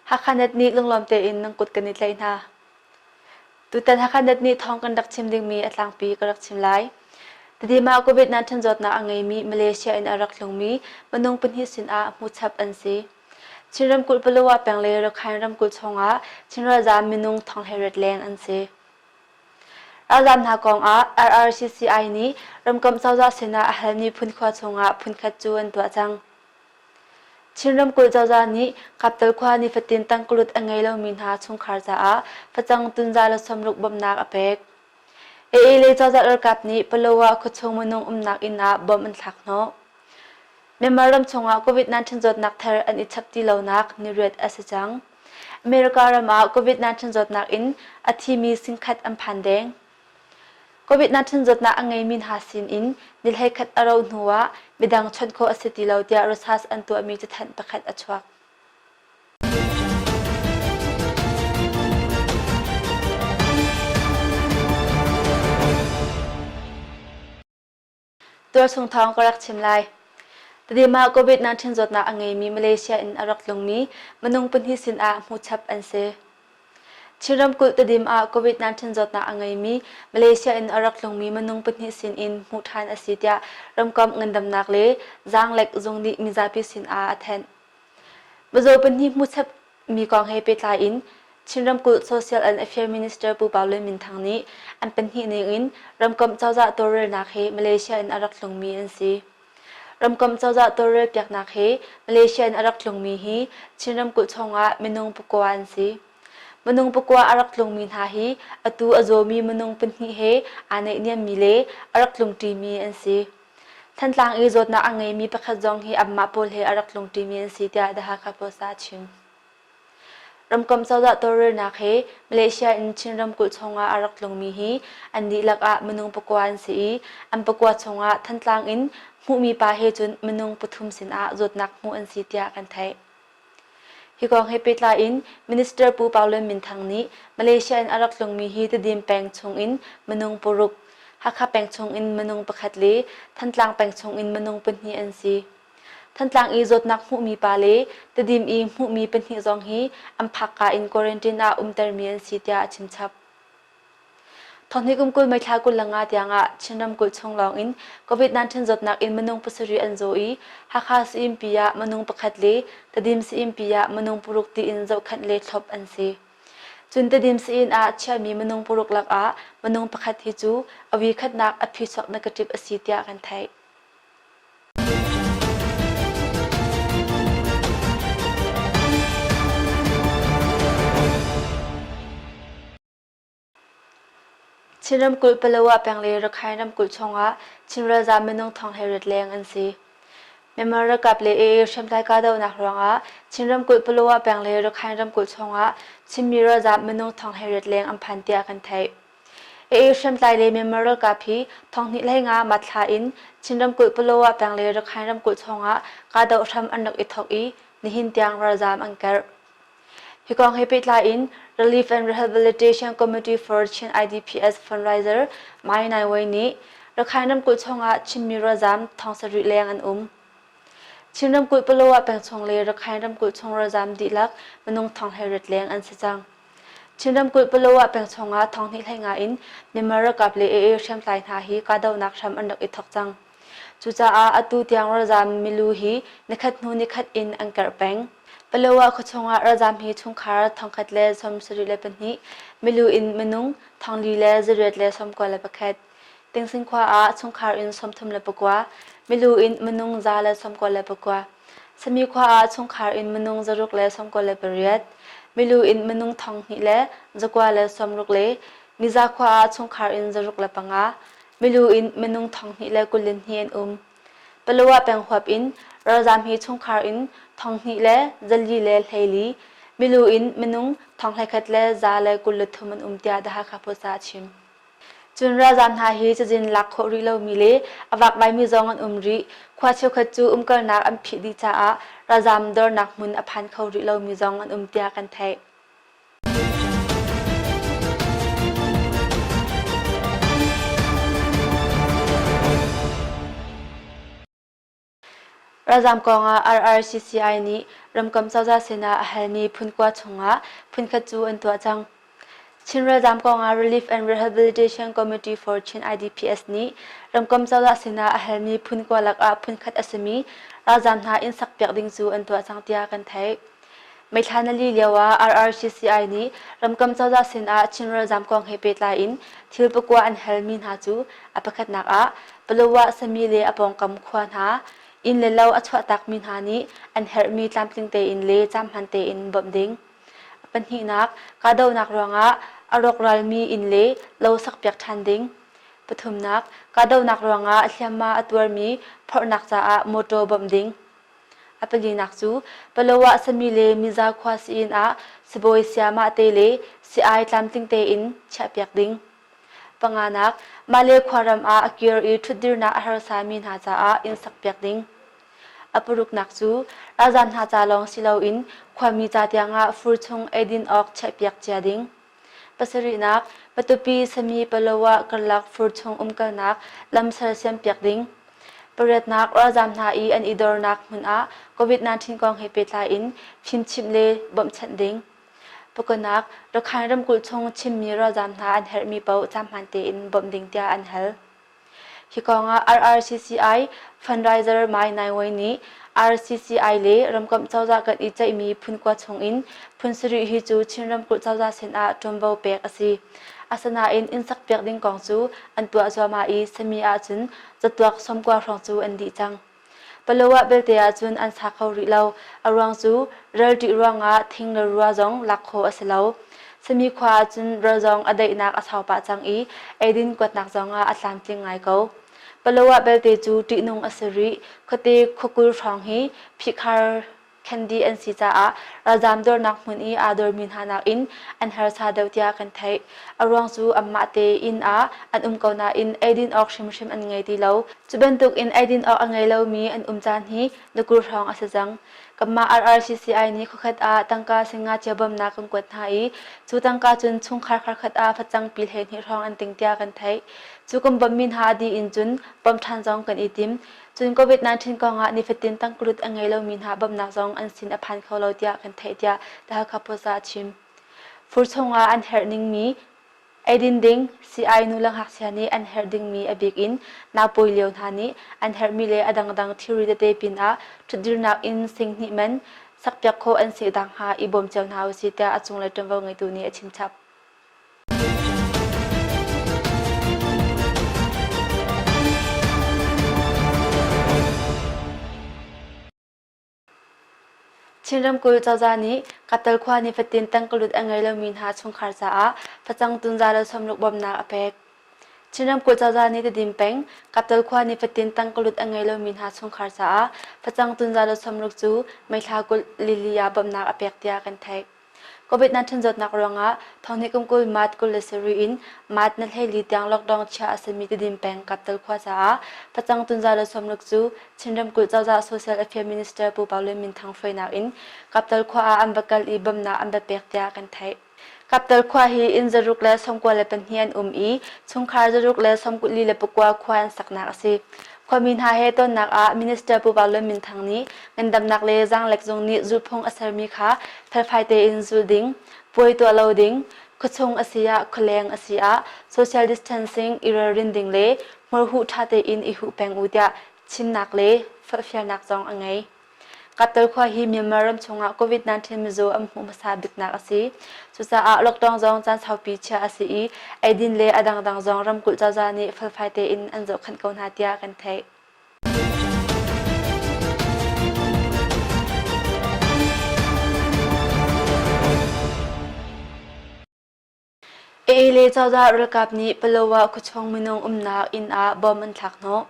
Hakhanat nih lunglawm tein nan kut kan i tlaih hna. Tutan Hakhanat nih thawng kan rak chim dingmi a tlangpi ka rak chim lai. Tadi mah COVID-19 zawtnak a ngeimi Malaysia in a rak tlungmi minung pahnih sinah hmuchap an si. Chin ramkulh Palawa peng le Rakhine ramkulh chungah Chin ralzaam minung thong he rat leng an si. Ralzaam hna kongah RRCCI nih ramkomh cozah sinah a halmi phun khua chungah phunkhat cu an tuah cang. Chin ramkulh cozah nih Kaptal khua nifatin tangkalut a ngei lomi hna chungkhar caah facang tunza le sawmruk bawmhnak a pek. AA lei cozah ralkap nih Paloah khuachung minung umnak inn ah bom an thlak hnawh. Myanmar ram chungah COVID-19 zawtnak thar an i chap ti lonak ni riat a si cang. America ram ah COVID-19 zawtnak in a thimi singkhat an phan deng. COVID-19 zawtnak a ngeimi hna sin in nilhlei khat a ro hnu ah midang chawnh khawh a si ti lo tiah Rosas an tuahmi cathanh pakhat a chuak. tualchung thawng ka rak chim lai. Tadima COVID-19 zawtnak a ngeimi Malaysia in a rak tlungmi minung pahnih sin ah hmuchap an si. Chin ramkulh Tadim ah COVID-19 zawtnak a ngeimi Malaysia in a rak tlungmi minung pahnih sin in hmuh ṭhan a si tiah ramkomh ngandamnak le zaanglek zung nih mizapi sin ah a thanh. Mizaw pahnih hmuchap Mi kong he pehtlai in Chin Ramkulh Social and Affairs Minister Pu Pau Lun Min Thang nih an pahnih ningin ramkomh cozah tawlrelnak hi Malaysia in a rak tlungmi an si. Ramkomh cozah tawlrel piaknak hi Malaysia in a rak tlungmi hi Chin ramkulh chungah minung pakua an si. Minung pakua a rak tlungmi hna hi atu a zawmi minung pahnih he aa naihniammi le a rak tlungṭimi an si. Thantlang i zawtnak a ngeimi pakhat zong hi amah pawl he a rak tlungṭimi an si tiah The Hakha Post ah a chim. Ramkomh cozah tawlrelnak he Malaysia in Chin ramkulh chungah a rak tlungmi hi an dihlak ah minung pakua an si i an pakua chungah Thantlang in hmuhmi pa he cun minung pathum sinah zawtnak hmuh an si tiah kan theih. Hi kong he pehtlai in Minister Pu Paulen Min Thang nih Malaysia in a rak tlungmi hi Tedim peng chungin minung paruk, Hakha peng chungin minung pakhat le Thantlang peng chungin minung pahnih an si. Thantlang i zawtnak hmuhmi pa le Tedim i hmuhmi pahnih zong hi an phakka in quarantine ah umtermi an si tiah a chimchap. Thawhni kum kul meithla kul le nga tiangah Chin ramkulh chung lawng in COVID-19 zawtnak in minung pasarih an zaw i Hakha sayimpi ah minung pakhat le Tadim sayimpi ah minung paruk tiin zohkhanh le thlawp an si. Cun Tadim sayin ah chiami minung paruk lakah minung pakhat hi cu awi khatnak a phi chuak na ka ṭip a si tiah kan theih. Chin ramkulh Palawa peng le Rakhine ramkulh chungah Chin ralzam minung thong he rat leng an si. Myanmar ralkap le AA hriamtlai kahdohnak ruangah Chin ramkulh Palawa peng le Rakhine ramkulh chungah Chinmi ralzam minung thong he rat leng an phan tiah kan theih. Aa hriamtlai le Myanmar ralkap hi thawnghnih lei nga matthla in Chin ramkulh Palawa peng le Rakhine ramkulh chungah kahdoh hram an rak i thawk i nihin tiang ralzaam an kerh. Hi kong he pehtlai in Relief and Rehabilitation Committee for Chin IDPS fundraiser Mai Nai Wei nih Rakhine ramkulh chungah Chinmi ralzaam thong sarih leng an um. Chin ramkulh Palawa peng chung le Rakhine ramkulh chung ralzaam dihlak minung thong he rat leng an si cang. Chin ramkulh Palawa peng chungah thawnghnih hleinga in Myanmar ralkap le AA hriamtlai hna hi kahdohnak hram an rak i thawk cang. Cucaah atu tiang ralzaam milu hi nikhat hnu nikhat in an kerh peng. Palawa khuachung ah ralzaam hi chungkhar thongkhat le sawm sarih le pahnih, milu in minung thongli le zariat le sawmkua le pakhat, Tingsin khua ah chungkhar in sawmthum le pakua, milu in minung za le sawmkua le pakua, sami khua ah chungkhar in minung zaruk le sawmkua le pariat, milu in minung thong hnih le zakua le sawmruk le miza khua ah chungkhar in zaruk le panga, milu in minung thong hnih le kul in hnih an um. Palawa peng huap in ralzam hi chungkhar in thong hnih le zali le hleili, milu in minung thong hlekhat le za le kul le thum an um tiah The Hakha Post ah a chim. Cun ralzam hna hi cazin lak khawh rih lomi le a vakvaimi zong an um rih. Khua cheukhat cu umkalnak an phih dih caah ralzam dornak hmun a phan kho rih lomi zong an um tiah kan theih. Ralzaam kongah RRCCI nih ramkam cozah sinah a halmi phun kua chungah phunkhat cu an tuah cang. Chin ralzaam kongah Relief and Rehabilitation Committee for Chin IDPS nih ramkam cozah sinah a halmi phun kua lakah phunkhat a simi ralzaam hna inn sakpiak ding cu an tuah cang tiah kan theih. Meithla na li lioah RRCCI nih ramkam cozah sinah Chin ralzaam kong he pehtlai in thil pakua an halmi hna cu a pakhatnak ah Palawa, Sami le a pawngkam khua hna inn le lo a chuahtakmi hna nih an herhmi tlamtling tein le caamhman tein bawmh ding. Pahnihnak, kahdohnak ruangah a rawkralmi inn le lo sakpiak ṭhan ding. Pathumnak, kahdohnak ruangah a hliamma a tuarmi phorhnak caah mawṭaw bawmh ding. A pahnihnak cu Paloah sami le Miza khua si-inn ah sibawi sayamah te le si-ai tlamtling tein chiahpiak ding. Panganak, mahle khuaram ah a kir i ṭhutdirnak a harsami hna caah inn sakpiak ding. A paruknak cu ralzam hna ca lawng si loin khuami ca tiangah fur chung eidin awk chiahpiak cia ding. Pasarihnak, Patupi sami Paloah karlak fur chung umkalnak lam sersiam piak ding. Pariatnak ralzaam hna i an i dornak hmun ah COVID-19 kong he pehtlai in fimchimh le bawmhchanh ding. Pakunak, Rakhine ramkulh chung Chinmi ralzaam hna an herhmi paoh cam hmaan tein bawmh ding tiah an hal. Hi kongah RRCCI fundraiser Mai Nai Wei nih RCCI le ramkomh cozah kan i ceihmi phunkua chungin phun sarih hi cu Chin ramkulh cozah sin ah ṭuanvo pek a si. Asinain inn sak piak ding kong cu an tuah zuahmah i sami ahcun catuak sawmkua hrawng cu an dih cang. Paloah belte ahcun an sa kho rih lo. A ruang cu ral ṭih ruangah thing le rua zong lak khawh a si lo. Sami khua ahcun ral zong a daihnak a sau pah cang i eidin kuatnak zong ah a tlamtling ngai ko. Paloah belte cu ṭihnung a si rih. Khuate khuakul hrawng hi phihkhar Khendi an si caah ralzaam dornak hmun i aa dormi hna nakin an harsa deuh tiah kan theih. A ruang cu anmah te inn ah an um ko nain eidin awk hrimhrim an ngei ti lo. Cu bantukin eidin awk a ngei lomi an um caan hi na kur hrawng a si cang. Kanmah RRCCI nih khokhat ah tangka singacia bawmnak kan kuat hna i cu tangka cun chungkhar kharkhat ah facangpi hleihnih hrawng an ting tiah kan theih. Cu kan bawmmi hna dih in cun bawm ṭhan zong kan i tim. Cun COVID-19 kong ah nifatin tangkulut a ngei lomi hna bawmhnak zong an sin a phan kho lo tiah kan theih tiah The Hakha Post ah a chim. Fur chungah an herh ningmi Edin ding CI nu le ngakchia nih an herh dingmi a bik in naupawi lio hna nih an herhmi le a dangdang thilri tete pinah ṭhutdirnak in singhnih man sakpiak khawh an si nakhnga i bawm cio hna usih tiah a cunglei ṭuanvo ngeitu nih a chimchap. Chin ramkulh cozah nih Katal khua nifatin tangkalut a ngei lomi hna chungkhar caah facang tunza le sawmruk bawmnak a pek. Chin ramkulh cozah nih Tedim peng Katal khua nifatin tangkalut a ngei lomi hna chungkhar caah facang tunza le sawmruk cu meithla kulh lili ah bawmnak a pek tiah kan theih. COVID-19 zawtnak ruangah thawngnih kum kul March kul le sarih in March na hleili tiang lockdown chia a simi Tidim peng Kaptal khua caah facang tunza le sawmruk cu Chin ramkulh cozah Social Affairs Minister Pu Pau Lian Min Thang hruainak in Kaptal khua ah an va kal i bawmhnak an va pek tiah kan theih. Kaptal khua hi inn zaruk le sawmkua le pahnih an um i chungkhar zaruk le sawmkuli le pakua khua an saknak a si. Khuami hna he tonnak ah Minister Pu Vang Lun Min Thang nih ngandamnak le zaanglek zung nih zulphung a sermi kha felfai tein zul ding, puai tuah lo ding, khuachung a si ah khualeng a si ah social distancing i ralrin ding le hmurhuh ṭha tein i huh peng u tiah chimnak le forhfialnak zong a ngei. Qatar khua hi Myanmar ram chungah COVID-19 mizaw an hmuh hmasa biknak a si. Cucaah lockdown zong caan saupi chiah a si i eidin le a dangdang zong ramkulh cozah nih felfai tein an zohkhanh ko hna tiah kan theih. Eele cozah ralkap nih Paloah khuachung minung umnak inn ah bom an thlak hnawh.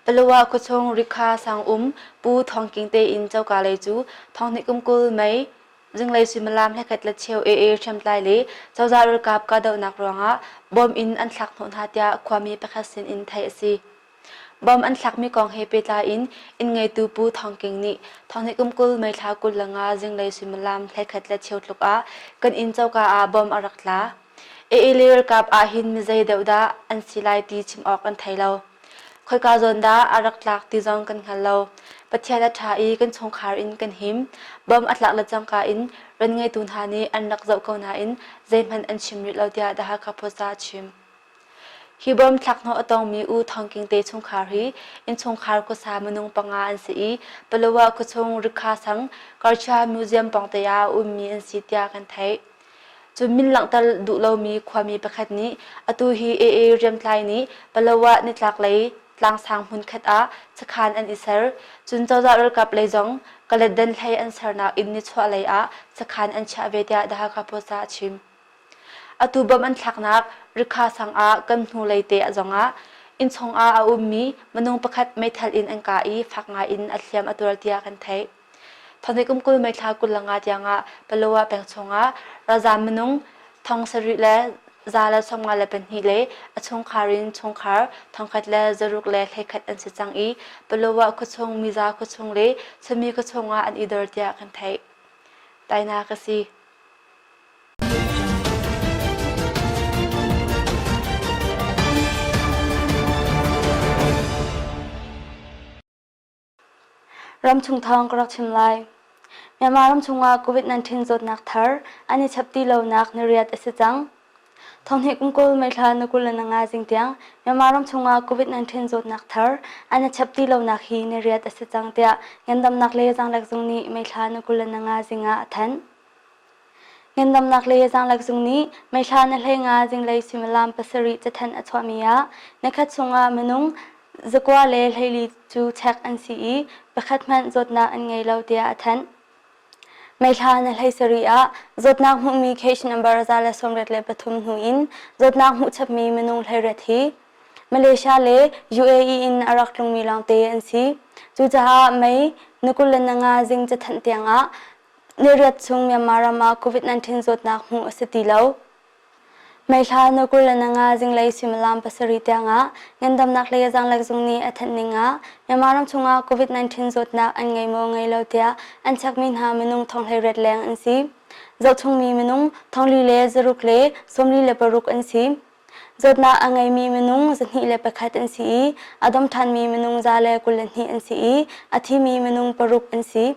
Paloah khuachung Rikha sang um Pu Thawng King tein coka lei cu thonghnih kum kul mei zinglei suimilam hlekhet la cheu ee hriamtlai le cozah ralkap kahdohnak ruangah bom in an thlak hnawh hna tiah khuami pakhat sin in theih a si. Bom an thlakmi kong he pehtlai in inn-ngeitu Pu Thawng King nih Thawnghnihkum kul meithla kul le nga zinglei suimilam hleikhat le cheu tluk ah kan inn coka ah bom a rak tla. AA le ralkap ahhin mi zei deuh dah an si lai ti chim awk an thei lo. Khoika zawn dah a rak tlak ti zong kan hngal lo. Pathian a ṭha i kan chungkhar in kan him. Bom a tlak le cangka in ran ngeitu hna nih an rak zoh ko nain zeihmanh an chim rih lo tiah The Hakha Post ah a chim. Hi bawm thlakhnawh a tongmi U Thawng King te chungkhar hi innchungkhar khuasa minung panga an si i Palawa khuachung Rikha sang Karcha Museum pawngte ah a ummi an si tiah kan theih. Cun min langhter duh lomi khuami pakhat nih atu hi AA Riamtlai nih Palawa nitlaklei tlangsang hmunkhat ah sakhan an i ser. Cun cozah ralkap lei zong Kaletdan hlei an sernak inn nichuahlei ah sakhan an chiah ve tiah The Hakha Post ah a chim. Atu bawmh an thlaknak Rikha sang ah kan hnulei te a zongah innchung ah a ummi minung pakhat meithal in an kah i fak ngaiin a hliam a tuar tiah kan theih. Thawni kum kul meithla kul langa tiangah Paloa peng chungah ralzaam minung thong sarih le za le sawmnga le pahnih le a chungkhar in chungkhar thongkhat le zaruk le hleikhat an si cang i Paloa khuachung, Miza khuachung le Sumi khuachung ah an i dor tiah kan theih. Tainak a si. Ramchung thawng ka rak chim lai. Myanmar ramchung ah COVID-19 zawtnak thar an i chap ti lonak na riat a si cang. Thonghni kum kul meithla na kul le na nga jing tiang Myanmar ramchung ah COVID-19 zawtnak thar an i chap ti lonak hi na riat a si cang tiah ngendamnak le zangrek zung nih meithla na kul le na nga jing ah a thanh. Ngandamnak le zaanglek zung nih meithla na hlei nga zinglei suimilam pasarih cathanh a chuahmi ah na khat chungah minung, zakua le hleili cu chek an si i pakhat hmanh zawtnak an ngei lo tiah a thanh. Meithla na hlei sarih ah zawtnak hmuhmi case number za le sawmriat le pathum hnu in zawtnak hmuh chapmi minung hleiriat hi Malaysia le UAE in a rak tlungmi lawngte an si. Cucaah Mei, na kul le na nga zing cathanh tiangah Niriat chung Myanmar ram ah COVID-19 zawtnak hmuh a si ti lo. Meihla nukul le nanga zinglei suimilam pasarih tiangah ngandamnak le zaanglek zung nih a thanh ning ah Myanmar ram chungah COVID-19 zawtnak an ngei maw ngei lo tiah an chekmi hna minung thonghleiret leng an si. Zohchungmi minung thongli le zaruk le sawmli le paruk an si. Zawtnak a ngeimi minung zahnih le pakhat an si i a dom ṭhanmi minung za le kul le hnih an si i a thimi minung paruk an si.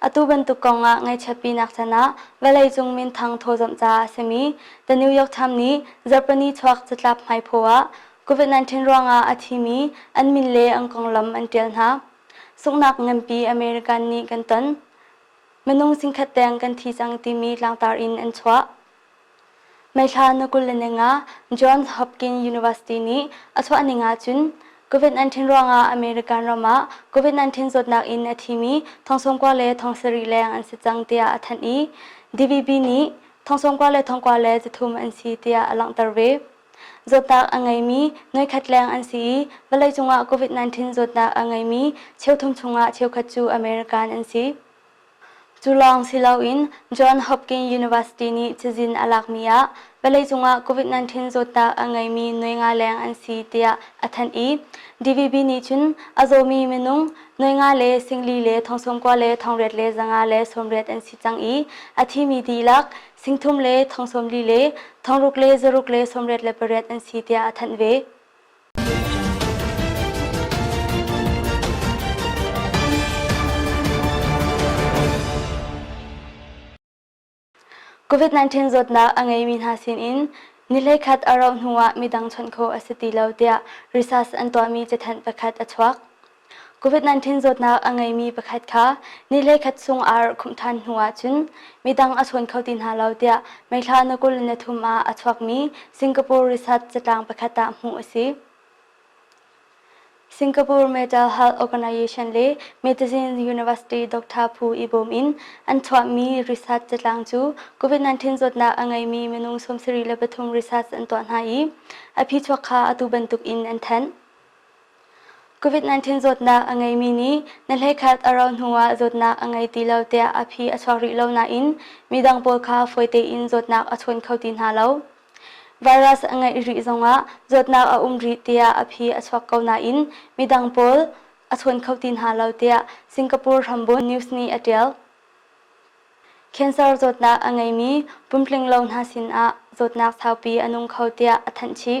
Atu bantuk kong ah ngaichiatpinak can ah vawleicung minthang thawzamh caah a simi The New York Times nih Japanese chuak catlap hmaiphaw ah COVID-19 ruangah a thimi an min le an konglam an ṭial hna. Sunghnak nganpi American nih kan ton. Minung zingkhat deng kan thi cang timi tlangtar in an chuah. Meithla na kul le ning ah Johns Hopkins University nih a chuahning ahcun COVID-19 ruangah American ram ah COVID-19 zawtnak in a thimi thongsawmkua le thong sarih leng an si cang tiah a thanh i DVB nih thongsawmkua le thongkua le cathum an si tiah a langhter ve. Zawtnak a ngeimi nuikhat leng an si i vawleicung ah COVID-19 zawtnak a ngeimi cheu thum chungah cheukhat cu American an si. Cu lawng si loin John Hopkins University nih cazin a lakmi ah vawleicung ah COVID-19 zawtnak a ngeimi nuai nga leng an si tiah a thanh i DVB nih cun a zawmi minung nuai nga le singli le thongsawmkua le thongriat le zanga le sawmriat an si cang i a thimi dihlak singthum le thongsawmli le thongruk le zaruk le sawmriat le pariat an si tiah a thanh ve. COVID-19 zawtnak a ngeimi hna sinin nilekhat a rauh hnuah midang chawnh khawh a si ti lo tiah research an tuahmi cathanh pakhat a chuak. COVID-19 zawtnak a ngeimi pakhat kha ni le khat chung ar khumh ṭhan hnu ahcun midang a chawn kho ti hna lo tiah meithla na kul na thum ah a chuakmi Singapore Research catlang pakhat ah hmuh a si. Singapore Mental Health Organization le Medicine University Dr. Phu Ibom in an chuahmi research catlang cu COVID-19 zawtnak a ngeimi minung sawmsarih le pathum research an tuah hna i a phi chuak kha atu bantuk in an thanh. COVID-19 zawtnak a ngeimi nih na hleikhat a rauh hnuah zawtnak a ngei ti lo tiah a phi a chuak rih lo nain midang pawl kha fawi tein zawtnak a chawn kho ti hna lo. Virus a ngeih rih zongah zawtnak a um rih tiah a phi a chuak ko nain midang pawl a chawn kho ti hna lo tiah Singapore hrambuan news nih a ṭial. Cancer zawtnak a ngeimi pumtling lo hna sinah zawtnak saupi a nung kho tiah a thanh chih.